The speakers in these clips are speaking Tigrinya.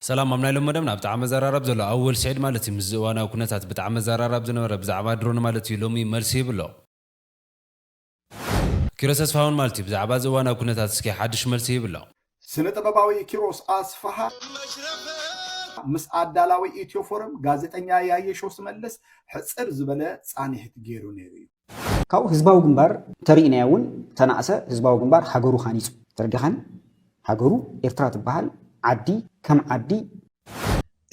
ሰላም ኣብ ናይ ሎሚ መደብና ብጣዕሚ ዘራራብ ዘሎ ኣወል ስዒድ ማለት እዩ ምስዚ እዋናዊ ኩነታት ብጣዕሚ ዘራራብ ዝነበረ ብዛዕባ ድሮን ማለት እዩ ሎሚ መልሲ ሂቡ ኣሎ። ኪሮስ ተስፋሃውን ማለት እዩ ብዛዕባ እዚ እዋናዊ ኩነታት እስኪ ሓድሽ መልሲ ሂቡ ኣሎ። ስነ ጥበባዊ ኪሮስ ኣስፍሃ ምስ ኣዳላዊ ኢትዮ ፎረም ጋዜጠኛ ያየሸው ስመልስ ሕጽር ዝበለ ጻኒሕት ጌሩ ኔሩ እዩ። ካብኡ ህዝባዊ ግንባር እንተሪኢናዮ እውን ተናእሰ ህዝባዊ ግንባር ሃገሩ ሃኒፁ ተረዲኻኒ ሃገሩ ኤርትራ ትበሃል ዓዲ ከም ዓዲ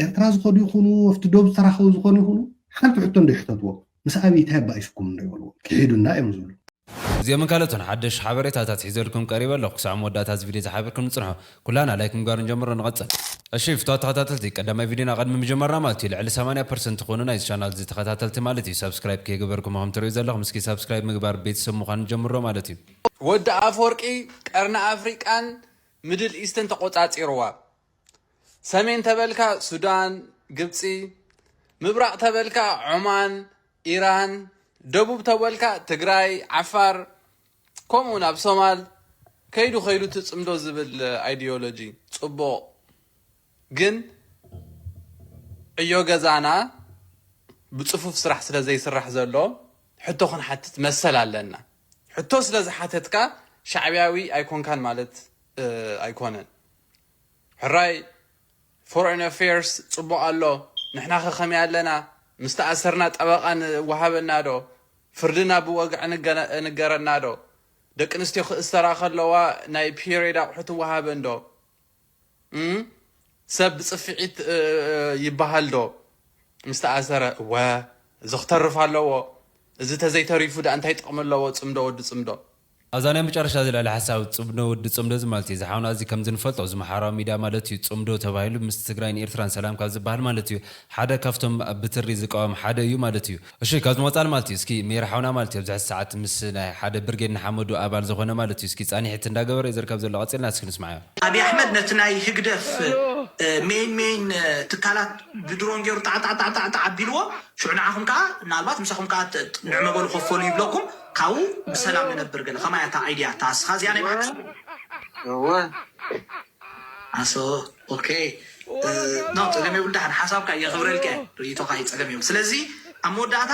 ኤርትራ ዝኸዱ ይኹኑ ኣብቲ ዶብ ዝተራኸቡ ዝኾኑ ይኹኑ ሓንቲ ሕቶ እንድሕተትዎም ምስ ኣብይ ታይ ኣባኢሱኩም እንዶ ይበልዎም ክሒዱና እዮም ዝብሉ። እዚኦምን ካልኦትን ሓደሽ ሓበሬታታት ሒዘልኩም ቀሪበ ኣለኹ። ክሳዕ መወዳእታ እዚ ቪድዮ እዚ ሓቢርኩም ንጽንሑ። ኩላና ላይክ ምግባር ንጀምሮ ንቐጽል። እሺ ፍትዋት ተኸታተልቲ ቀዳማይ ቪድዮና ቐድሚ ምጅማርና ማለት እዩ ልዕሊ ሰማንያ ፐርሰንት ትኾኑ ናይዚ ቻናል እዚ ተኸታተልቲ ማለት እዩ ሳብስክራይብ ከይገበርኩም እኹም ትርእዩ ዘለኹም እስኪ ሳብስክራይብ ምግባር ቤተሰብ ምዃን ንጀምሮ ማለት እዩ። ወዲ ኣፍወርቂ ቀርኒ ኣፍሪቃን ምድል ኢስትን ተቆጻጺርዋ። ሰሜን ተበልካ ሱዳን፣ ግብጺ፣ ምብራቅ ተበልካ ዖማን፣ ኢራን፣ ደቡብ ተበልካ ትግራይ፣ ዓፋር፣ ከምኡውን ኣብ ሶማል ከይዱ ከይዱ ትጽምዶ ዝብል ኣይድዮሎጂ ጽቡቕ ግን ዕዮ ገዛና ብጽፉፍ ስራሕ ስለ ዘይስራሕ ዘሎ ሕቶ ክንሓትት መሰል ኣለና። ሕቶ ስለ ዝሓተትካ ሻዕብያዊ ኣይኮንካን ማለት ኣይኮነን። ሕራይ ፎረን ኣፌርስ ጽቡቅ ኣሎ ንሕናኸ ከመይ ኣለና ምስ ተኣሰርና ጠበቃ ንወሃበና ዶ ፍርድና ብወግዒ ንገረና ዶ ደቂ ኣንስትዮ ክእሰራ ከለዋ ናይ ፒሬድ ኣቁሑት ይወሃበን ዶ እም ሰብ ብጽፍዒት ይበሃል ዶ ምስ ተኣሰረ እወ እዚ ክተርፍ ኣለዎ እዚ ተዘይ ተሪፉ ድኣ እንታይ ጥቅሚ ኣለዎ ጽምዶ ወዲ ጽምዶ። ኣዛ ናይ መጨረሻ ዘልዕላ ሓሳብ ጽብዶ ወዲ ጽምዶ እዚ ማለት እዩ እዚ ሓውና እዚ ከምዚ ንፈልጦ እዚ ምሓራዊ ሚድያ ማለት እዩ ጽምዶ ተባሂሉ ምስ ትግራይን ኢርትራን ሰላም ካብ ዝባሃል ማለት እዩ ሓደ ካብቶም ብትሪ ዝቃወም ሓደ እዩ ማለት እዩ እሺ ካብዚ ወጻል ማለት እዩ እስኪ ሜሪ ሓውና ማለት እዩ ኣብዚ ሕዚ ሰዓት ምስ ናይ ሓደ ብርጌድ ንሓመዱ ኣባል ዝኾነ ማለት እዩ እስኪ ጻኒሒት እንዳገበረ እዩ ዝርከብ ዘሎ ቀጺልና እስኪ ንስማዓዮ። ኣብይ ኣሕመድ ነቲ ናይ ህግደፍ ሜይን ሜይን ትካላት ብድሮን ጌሩ ጣዕጣዕጣዕጣዕ ኣቢልዎ ሽዑ ንዓኹም ከኣ ምናልባት ምሳኹም ከኣ ንዕመበሉ ከፈሉ ይብለኩም። ካብኡ ብሰላም ንነብር ገለ ከማይ ኣታ ኣይድያ ኣታ ኣስኻ እዚኣ ናይ ባሓቂ። እወ ዓሶ ኦኬ ኖ ጸገም የብሉ ዳሓን ሓሳብካ የክብረልካ እየ ርእይቶካ እዩ ጸገም የብሉ ስለዚ ኣብ መወዳእታ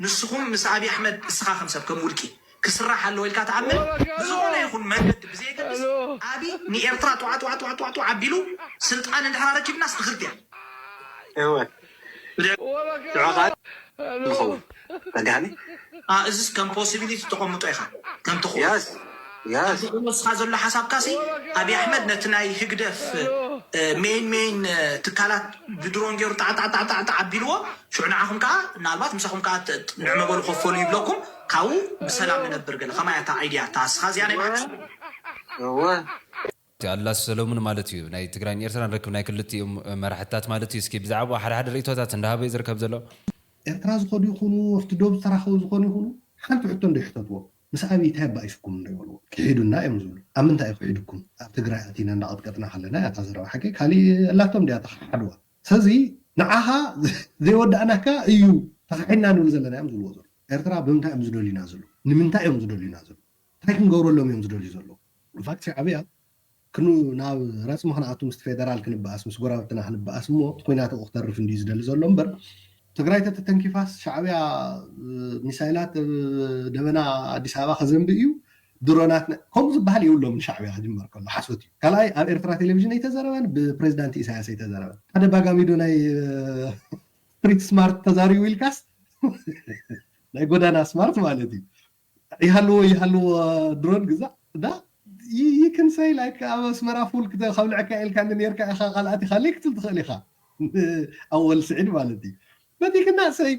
ንስኩም ምስ ኣብይ ኣሕመድ እስኻ ከም ሰብ ከም ውልቂ ክስራሕ ኣለዎ ኢልካ ትኣምን ብዝኮነ ይኩን መንገዲ ብዘየገድስ ኣብይ ንኤርትራ ጧዕጧዕጧዕጧዕጧዕ ኣቢሉ ስልጣን እንድሕር ኣረኪብናስ ትክልት እያ እወ። ንዕኻ ዝኸውን ተጋኒ ኣ እዝስ ከም ፖሲቢሊቲ ተቀምጦ ኢኻ ከምቲ ክወስ ከምቲ ክወስካ ዘሎ ሓሳብካ ሲ ኣብይ ኣሕመድ ነቲ ናይ ህግደፍ ሜይን ሜይን ትካላት ብድሮን ጌሩ ጣዕጣዕጣዕጣዕ ኣቢልዎ ሽዑ ንዓኹም ከኣ ምናልባት ምሳኹም ከኣ ንዕመበሉ ከፈሉ ይብለኩም ካብኡ ብሰላም ንነብር ገለ ከማይ ኣታ ኣይድያ ኣታ እስኻ እዚኣ ናይ ባሓቂ እወ። እቲ ኣድላስ ሰለሙን ማለት እዩ ናይ ትግራይን ኤርትራን ርክብ ናይ ክልቲኡ መራሕቲታት ማለት እዩ እስኪ ብዛዕብኡ ሓደ ሓደ ርእይቶታት እንዳሃበ እዩ ዝርከብ ዘሎ። ኤርትራ ዝኸዱ ይኹኑ ኣብቲ ዶብ ዝተራኸቡ ዝኾኑ ይኹኑ ሓንቲ ሕቶ እንዶ ይሕተትዎም ምስ ኣብይ ታይ እባ ዒሱኩም እንዶ ይበልዎ ኪሒዱና እዮም ዝብሉ ኣብ ምንታይ እዩ ኪሒዱኩም ኣብ ትግራይ ኣቲና እንዳቀጥቀጥና ከለና እያ እታ ዘረባ ሓቀይ ካሊእ ኣላቶም ድያ ተኻሓድዋ ሰዚ ንዓኻ ዘይወዳእናካ እዩ ተኻሒድና ንብል ዘለና እዮም ዝብልዎ ዘለዉ ኤርትራ ብምንታይ እዮም ዝደልዩና ዘለዉ ንምንታይ እዮም ዝደልዩና ዘለዉ ታይ ክንገብረሎም እዮም ዝደልዩ ዘለዉ ኢንፋክት ሻዕብያ ክኑ ናብ ረጽሚ ክንኣቱ ምስቲ ፌደራል ክንበኣስ ምስ ጎራብትና ክንበኣስ እሞ እቲ ኩናት ኣብኡ ክተርፍ እንድዩ ዝደሊ ዘሎ እምበር ትግራይ ተተተንኪፋስ ሻዕብያ ሚሳይላት ኣብ ደበና ኣዲስ ኣበባ ከዘንቢ እዩ ድሮናት ከምኡ ዝበሃል የብሎምን ሻዕብያ ክጅመር ከሎ ሓሶት እዩ ካልኣይ ኣብ ኤርትራ ቴሌቪዥን ኣይተዘረበን ብፕሬዚዳንት ኢሳያስ ኣይተዘረበን ተደጋጋሚዶ ናይ ስትሪት ስማርት ተዛሪቡ ኢልካስ ናይ ጎዳና ስማርት ማለት እዩ ይሃልዎ ይሃልዎ ድሮን ግዛእ እዳ you can say like ኣብ ኣስመራ ፉል ከብልዐካ ኢልካኒ ኔርካ ኢኻ ካልኣት ኢኻ ኢለይ ክትብል ትኽእል ኢኻ ኣወል ስዒድ ማለት እዩ but you cannot say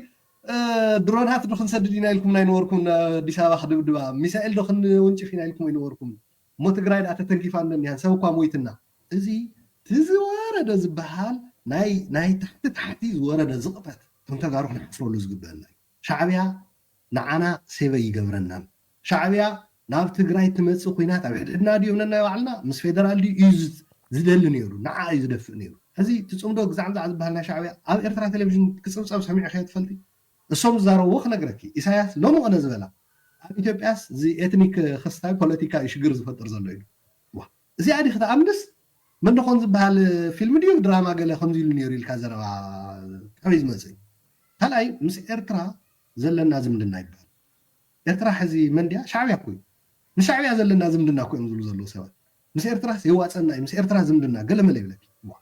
ድሮናት ዶ ክንሰድድ ኢና ኢልኩምና ኣይነበርኩምን ኣዲስ ኣበባ ክድብድባ ሚሳኤል ዶ ክንውንጭፍ ኢና ኢልኩም ኣይነበርኩምን እሞ ትግራይ ደኣ ተተንኪፋ እነኒሃን ሰብ እኳ ሞይትና እዚ እቲ ዝወረደ ዝበሃል ናይ ናይ ታሕቲ ታሕቲ ዝወረደ ዝቕጠት እቶም ተጋሩ ክንሓፍረሉ ዝግበአና እዩ ሻዕቢያ ንዓና ሴቭ ኣይገብረናን። ሻዕቢያ ናብ ትግራይ ትመፅእ ኩናት ኣብ ሕድሕድና ድዩ የብለናይ ባዕልና ምስ ፌደራል ድዩ እዩ ዝደሊ ነይሩ ንዓኣ እዩ ዝደፍእ ነይሩ ሕዚ እቲ ፅምዶ ግዛዕምዛዕ ዝበሃል ናይ ሻዕቢያ ኣብ ኤርትራ ቴሌቭዥን ክፅብፀብ ሰሚዕኽዮ ትፈልጢ እሶም ዝዛረብዎ ክነግረኪ ኢሳያስ ሎሚ ቕነ ዝበላ ኣብ ኢትዮጵያስ እዚ ኤትኒክ ክስታይ ፖለቲካ እዩ ሽግር ዝፈጥር ዘሎ ኢሉ ዋእ እዚኣ ዲኺ ትኣምንስ መንደኾን ዝብሃል ፊልም ድዩ ድራማ ገለ ከምዚ ኢሉ ኔሩ ኢልካ ዘረባ ካበይ ዝመጽእ እዩ ካልኣይ ምስ ኤርትራ ዘለና ዝምድና ይብሃል ኤርትራ ሕዚ መን ድያ ሻዕብያ እኮ እዩ ምስ ሻዕብያ ዘለና ዝምድና እኮ እዮም ዝብሉ ዘለዉ ሰባት ምስ ኤርትራስ የዋጽኣና እዩ ምስ ኤርትራ ዝምድና ገለመለ ይብለኪ እዋእ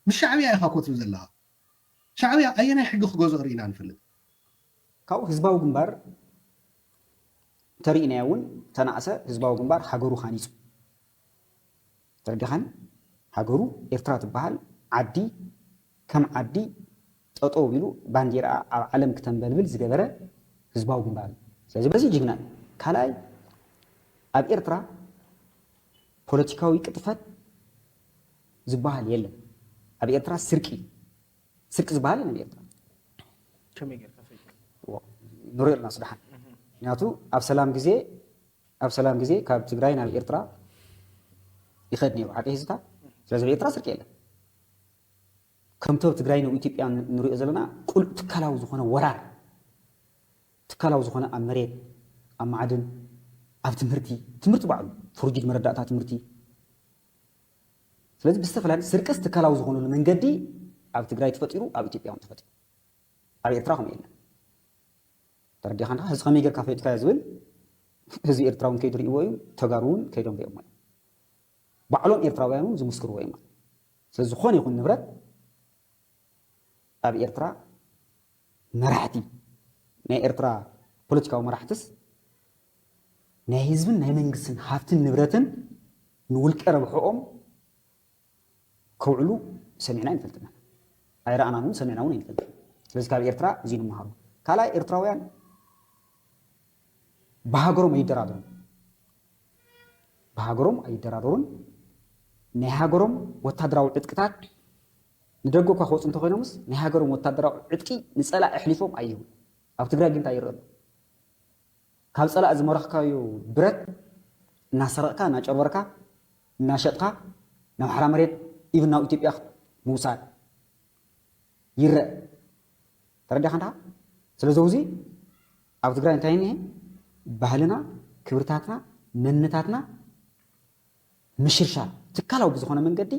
ምስ ሻዕብያ ኢኻ እኮ ትብል ዘለኻ ሻዕብያ ኣየናይ ሕጊ ክገዝኦ ርኢና ንፈልጥ? ካብኡ ህዝባዊ ግንባር እንተርኢናዮ እውን ተናእሰ ህዝባዊ ግንባር ሃገሩ ሃኒጹ። ተረዲኻኒ? ሃገሩ ኤርትራ ትበሃል ዓዲ ከም ዓዲ ጠጠው ኣቢሉ ባንዴራኣ ኣብ ዓለም ክተንበልብል ዝገበረ ህዝባዊ ግንባር እዩ። ስለዚ በዚ ጅግና እዩ። ካልኣይ ኣብ ኤርትራ ፖለቲካዊ ቅጥፈት፣ ዝባሃል የለን ኣብ ኤርትራ ስርቂ ስርቂ ዝባሃል የለን ኤርትራ ከመይ ጌርካ ፈይጥዎ ንሪኦ ኣለና ስደሓን ምክንያቱ ኣብ ሰላም ግዜ ኣብ ሰላም ግዜ ካብ ትግራይ ናብ ኤርትራ ይኸድ ነይሩ ሓቂ ህዝታ ስለዚ ኣብ ኤርትራ ስርቂ የለን ከምቲ ኣብ ትግራይ ናብ ኢትዮጵያ ንሪኦ ዘለና ቁልዕ ትካላዊ ዝኾነ ወራር ትካላዊ ዝኾነ ኣብ መሬት ኣብ ማዕድን ኣብ ትምህርቲ ትምህርቲ ባዕሉ ፍርጅድ መረዳእታ ትምህርቲ ስለዚ ብዝተፈላለዩ ስርቅስ ትካላዊ ዝኾኑሉ መንገዲ ኣብ ትግራይ ተፈጢሩ ኣብ ኢትዮጵያ እውን ተፈጢሩ ኣብ ኤርትራ ከምኡ የለን ተረዲኻን ኸዓ ህዚ ከመይ ጌርካ ፈጢካዮ ዝብል ህዝቢ ኤርትራ እውን ከይዱ ሪእዎ እዩ ተጋሩ እውን ከይዶም ሪኦሞ እዮም ባዕሎም ኤርትራውያን እውን ዝምስክርዎ እዮም ማለት ስለዚ ዝኾነ ይኹን ንብረት ኣብ ኤርትራ መራሕቲ ናይ ኤርትራ ፖለቲካዊ መራሕትስ ናይ ህዝብን ናይ መንግስትን ሃብትን ንብረትን ንውልቀ ረብሕኦም ከውዕሉ ሰሚዕና ኣይንፈልጥን ኢና። ኣይረኣናን እውን ሰሚዕና እውን ኣይንፈልጥን። ስለዚ ካብ ኤርትራ እዚ ንመሃሮ። ካልኣይ ኤርትራውያን ብሃገሮም ኣይደራደሩን። ብሃገሮም ኣይደራደሩን። ናይ ሃገሮም ወታደራዊ ዕጥቅታት ንደገ እኳ ክወጹ እንተኾይኖምስ ናይ ሃገሮም ወታደራዊ ዕጥቂ ንጸላኢ ኣሕሊፎም ኣይህቡን። ኣብ ትግራይ ግን እንታይ ይረኣ ኣሎ? ካብ ጸላኢ ዝመረኽካዮ ብረት እናሰረቕካ፣ እናጨርበርካ፣ እናሸጥካ ናብ ሓራ መሬት ኢቭን ናብ ኢትዮጵያ ምውሳድ ይረኣ። ተረዲእካ እንድኻ? ስለዚ ውዚ ኣብ ትግራይ እንታይ እኒሀ? ባህልና፣ ክብርታትና፣ መንነታትና፣ ምሽርሻር ትካላዊ ብዝኾነ መንገዲ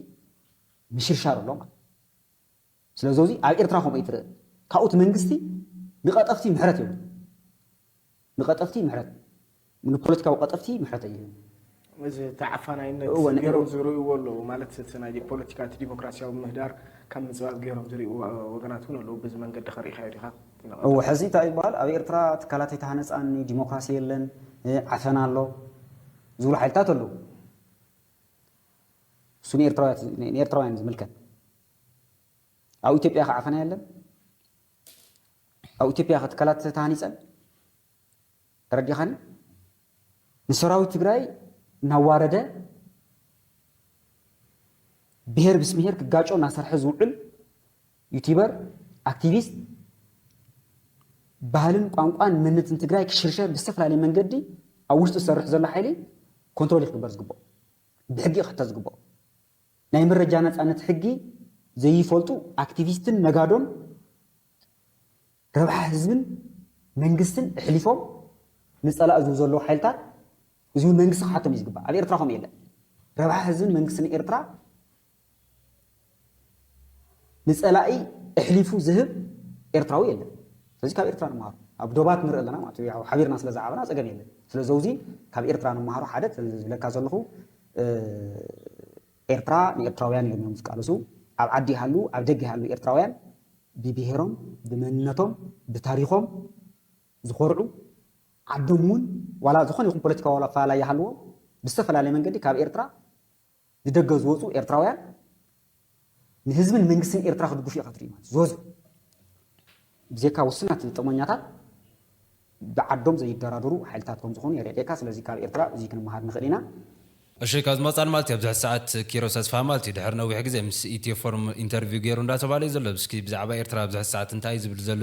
ምሽርሻር ኣሎ ማለት ስለዚ እዚ ኣብ ኤርትራ ከምኡ ይትርእ ካብኡ እቲ መንግስቲ ንቐጠፍቲ ምሕረት ይህብ ንቐጠፍቲ ምሕረት ንፖለቲካዊ ቀጠፍቲ ምሕረት ይህብ እዚ እቲ ዓፋናይነት ገይሮም ዝርእይዎ ኣለዉ ማለት እቲ ናይ ፖለቲካ እቲ ዲሞክራሲያዊ ምህዳር ካብ ምፅባብ ገይሮም ዝርእይዎ ወገናት እውን ኣለዉ በዚ መንገዲ ከርእኻዮ ዲኻ እዎ ሕዚ እንታይ ይበሃል ኣብ ኤርትራ ትካላት ኣይተሃነፃን ዲሞክራሲ የለን ዓፈና ኣሎ ዝብሉ ሓይልታት ኣለዉ። እሱ ንኤርትራውያን እዩ ዝምልከት። ኣብ ኢትዮጵያ ከ ዓፈና የለን? ኣብ ኢትዮጵያ ከ ትካላት ተሃኒፀን? ተረዲኻኒ? ንሰራዊት ትግራይ እናዋረደ ብሄር ምስ ብሄር ክጋጮ እናሰርሐ ዝውዕል ዩቲበር ኣክቲቪስት ባህልን ቋንቋን መንነትን ትግራይ ክሽርሸር ብዝተፈላለየ መንገዲ ኣብ ውሽጡ ዝሰርሕ ዘሎ ሓይሊ ኮንትሮል ክግበር ዝግብኦ ብሕጊ ክሕተት ዝግብኦ ናይ መረጃ ነፃነት ሕጊ ዘይፈልጡ ኣክቲቪስትን ነጋዶን ረብሓ ህዝብን መንግስትን እሕሊፎም ንፀላእ ዝህቡ ዘለዉ ሓይልታት እዚ እውን መንግስቲ ክሓቶም እዩ ዝግባእ ኣብ ኤርትራ ከምኡ የለን ረብሓ ህዝብን መንግስትን ኤርትራ ንጸላኢ እሕሊፉ ዝህብ ኤርትራዊ የለን ስለዚ ካብ ኤርትራ ንመሃሮ ኣብ ዶባት ንርኢ ኣለና ማለት እዩ ሓቢርና ስለ ዝዓበና ጸገም የለን ስለዘውዚ ካብ ኤርትራ ንመሃሮ ሓደ ዝብለካ ዘለኹ ኤርትራ ንኤርትራውያን እዮም እዮም ዝቃለሱ ኣብ ዓዲ ይሃሉ ኣብ ደገ ይሃሉ ኤርትራውያን ብብሄሮም ብመንነቶም ብታሪኾም ዝኾርዑ ዓዶም እውን ዋላ ዝኾነ ይኹን ፖለቲካዊ ዋላ ኣፈላላይ ይሃልዎም ብዝተፈላለየ መንገዲ ካብ ኤርትራ ንደገ ዝወጹ ኤርትራውያን ንህዝብን መንግስትን ኤርትራ ክድግፉ ኢኻ ትርኢ ማለት ዝወጹ ብዜካ ውስናት ጥቕመኛታት ብዓዶም ዘይደራደሩ ሓይልታት ከም ዝኾኑ የረዴካ ስለዚ ካብ ኤርትራ እዙይ ክንመሃር ንኽእል ኢና። እሺ ካብ ዝመጻን ማለት እዩ ኣብዚ ሕጂ ሰዓት ኪሮስ ኣስፍሃ ማለት እዩ ድሕሪ ነዊሕ ግዜ ምስ ኢትዮ ፎርም ኢንተርቪው ጌሩ እንዳተባህለ እዩ ዘሎ እስኪ ብዛዕባ ኤርትራ ኣብዚ ሕጂ ሰዓት እንታይ እዩ ዝብል ዘሎ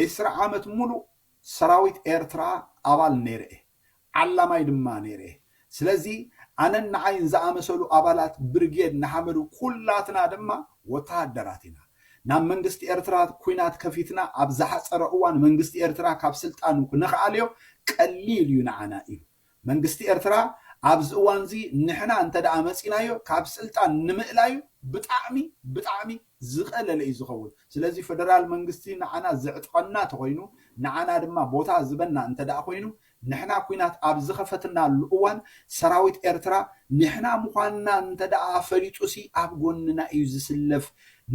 ዒስራ ዓመት ሙሉእ ሰራዊት ኤርትራ ኣባል ነይረ'የ፣ ዓላማይ ድማ ነይረ'የ። ስለዚ ኣነን ንዓይን ዝኣመሰሉ ኣባላት ብርጌድ ንሓመዱ ኩላትና ድማ ወተሃደራት ኢና። ናብ መንግስቲ ኤርትራ ኩናት ከፊትና ኣብ ዝሓጸረ እዋን መንግስቲ ኤርትራ ካብ ስልጣኑ ክንክኣልዮ ቀሊል'ዩ ንዓና ኢሉ። መንግስቲ ኤርትራ ኣብዚ እዋንዚ ንሕና እንተደኣ መጺናዮ ካብ ስልጣን ንምእላዩ ብጣዕሚ ብጣዕሚ ዝቀለለ እዩ ዝኸውን ስለዚ ፈደራል መንግስቲ ንዓና ዘዕጥቐና ተኾይኑ ንዓና ድማ ቦታ ዝበና እንተደኣ ኮይኑ ንሕና ኩናት ኣብ ዝኸፈትናሉ እዋን ሰራዊት ኤርትራ ንሕና ምዃንና እንተደኣ ፈሊጡሲ ኣብ ጎንና እዩ ዝስለፍ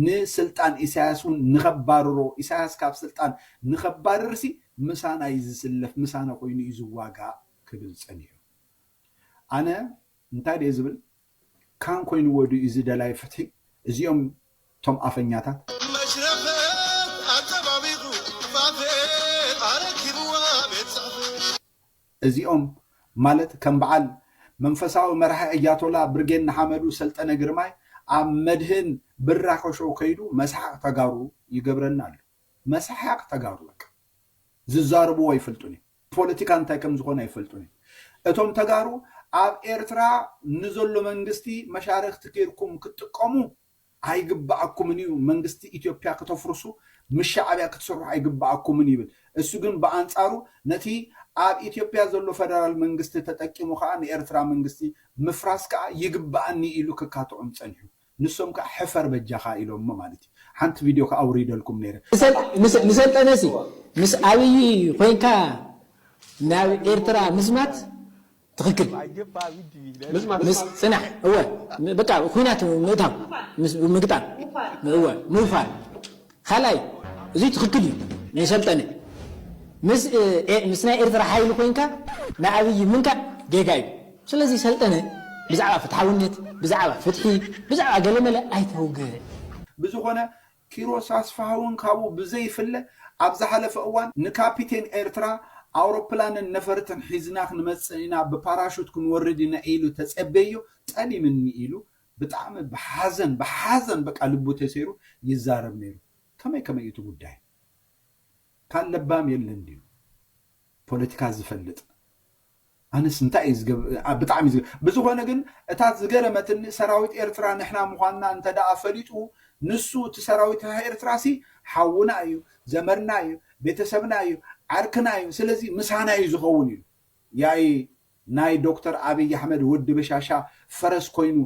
ንስልጣን ኢሳያስ እውን ንኸባርሮ ኢሳያስ ካብ ስልጣን ንኸባርርሲ ምሳና እዩ ዝስለፍ፣ ምሳና ኮይኑ እዩ ዝዋጋእ ክብል ጸኒሑ። ኣነ እንታይ ድየ ዝብል፣ ካን ኮይንዎ ድዩ እዚ ደላይ ፍትሒ፣ እዚኦም እቶም ኣፈኛታት። መሽረፈት ኣጸባቢቑ ፋፌ ኣረኪብዋ ቤት ጽሕፈት። እዚኦም ማለት ከም በዓል መንፈሳዊ መራሒ ኣያቶላ ብርጌድ ንሓመዱ ሰልጠነ ግርማይ ኣብ መድህን ብራኸ ሾው ከይዱ መስሓቕ ተጋሩ ይገብረና ኣሎ። መስሓቅ ተጋሩ በቃ ዝዛርብዎ ኣይፈልጡን እዮም ፖለቲካ እንታይ ከምዝኾነ ኣይፈልጡን እዮም እቶም ተጋሩ ኣብ ኤርትራ ንዘሎ መንግስቲ መሻርኽቲ ጌርኩም ክትጥቀሙ ኣይግበኣኩምን እዩ መንግስቲ ኢትዮፕያ ክተፍርሱ ምስ ሻዕብያ ክትስርሑ ኣይግበኣኩምን ይብል እሱ ግን ብኣንጻሩ ነቲ ኣብ ኢትዮፕያ ዘሎ ፈደራል መንግስቲ ተጠቂሙ ከኣ ንኤርትራ መንግስቲ ምፍራስ ከኣ ይግበኣኒ ኢሉ ክካትዖም ጸኒሑ ንሶም ከኣ ሕፈር በጃኻ ኢሎሞ ማለት እዩ ሓንቲ ቪድዮ ከኣ ኣውሪደልኩም ነይረ። ንሰልጠነሲ ምስ ኣብይ ኮይንካ ናብ ኤርትራ ምዝማት ትክክል ምስ ፅናሕ እወ በቃ ኩናት ምእታው ምግጣም እወ ምውፋር ካልኣይ እዙይ ትኽክል እዩ ንሰልጠነ ምስ ምስ ናይ ኤርትራ ሓይሊ ኮይንካ ንኣብይ ምንካእ ጌጋ እዩ ስለዚ ሰልጠነ ብዛዕባ ፍትሓውነት ብዛዕባ ፍትሒ ብዛዕባ ገለመለ ኣይተውግዕ። ብዝኾነ ኪሮስ ኣስፍሃውን ካብኡ ብዘይፍለ ኣብ ዝሓለፈ እዋን ንካፒቴን ኤርትራ ኣውሮፕላንን ነፈርትን ሒዝና ክንመጽእ ኢና ብፓራሹት ክንወርድ ኢና ኢሉ ተጸበይዮ ጠሊምኒ ኢሉ ብጣዕሚ ብሓዘን ብሓዘን በቃ ልቡ ተሰይሩ ይዛረብ ነይሩ ከመይ ከመይ እዩ እቲ ጉዳይ ካል ለባም የለን ድዩ ፖለቲካ ዝፈልጥ ኣነስ እንታይ እዩ ዝገብ ብጣዕሚ ዝገ ብዝኾነ ግን እታ ዝገረመትኒ ሰራዊት ኤርትራ ንሕና ምዃንና እንተ ደኣ ፈሊጡ ንሱ እቲ ሰራዊት ኤርትራ ሲ ሓውና እዩ ዘመድና እዩ ቤተሰብና እዩ ዓርክና እዩ ስለዚ ምሳና እዩ ዝኸውን ኢሉ ያይ ናይ ዶክተር ኣብይ ኣሕመድ ወዲ በሻሻ ፈረስ ኮይኑ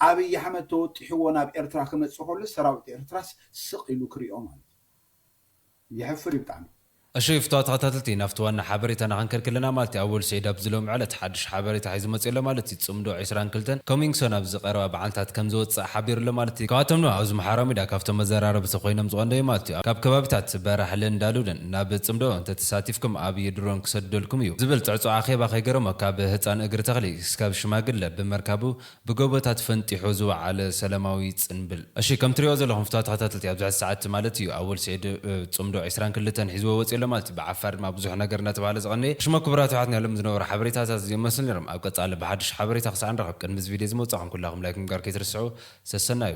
ኣብይ ኣሕመድ ተወጢሕዎ ናብ ኤርትራ ክመጽእ ከሎ ሰራዊት ኤርትራስ ስቅ ኢሉ ክሪኦ ማለት እዩ የሕፍር እዩ ብጣዕሚ። እሺ ፍትዋት ተኸታተልቲ ናፍቲ ዋና ሓበሬታ ናኸንከድ ከለና ማለት እዩ ኣወል ስዒድ ኣብዚ ሎሚ ዕለት ሓዱሽ ሓበሬታ ሒዙ መጺኡ ኣሎ ማለት እዩ ጽምዶ ዕስራን ክልተን Coming Soon ኣብዚ ቀረባ በዓልታት ከምዝወጽእ ሓቢሩ ኣሎ ማለት እዩ ካብኣቶም ድማ ኣብዚ ምሓራ ሚድያ ካብቶም መዘራረብቲ ኮይኖም ዝቀንደዩ ማለት እዩ ካብ ከባቢታት በራሕለን ዳሉልን ናብ ጽምዶ እንተ ተሳቲፍኩም ኣብይ ድሮን ክሰድደልኩም እዩ ዝብል ጽዕጹዕ ኣኼባ ከይገረሞ ካብ ህጻን እግሪ ተኽሊ እስካብ ሽማግለ ብመርካቡ ብጎቦታት ፈንጢሑ ዝወዓለ ሰላማዊ ጽንብል እሺ ከም ትሪእዎ ዘለኹም ፍትዋ ተኸታተልቲ ኣብዚ ሕዚ ሰዓት ማለት እዩ ኣወል ሲዒድ ጽምዶ ዕስራን ክልተን ሒዝዎ ወጺኡ ኣሎ ማለት እዩ ብዓፋር ድማ ብዙሕ ነገር እንዳተባህለ ዝቐነየ እሽሞ ክቡራት የሕዋትና ሎሚ ዝነበሩ ሓበሬታታት እዚኦም ይመስሉ ኔሮም ኣብ ቀጻሊ ብሓድሽ ሓበሬታ ክሳዕ ንራኸብ ቅድሚ እዚ ቪድዮ እዚ ምውጻኹም ኩላኹም ላይክ ምግባር ከይትርስዑ ሰሰናዩ።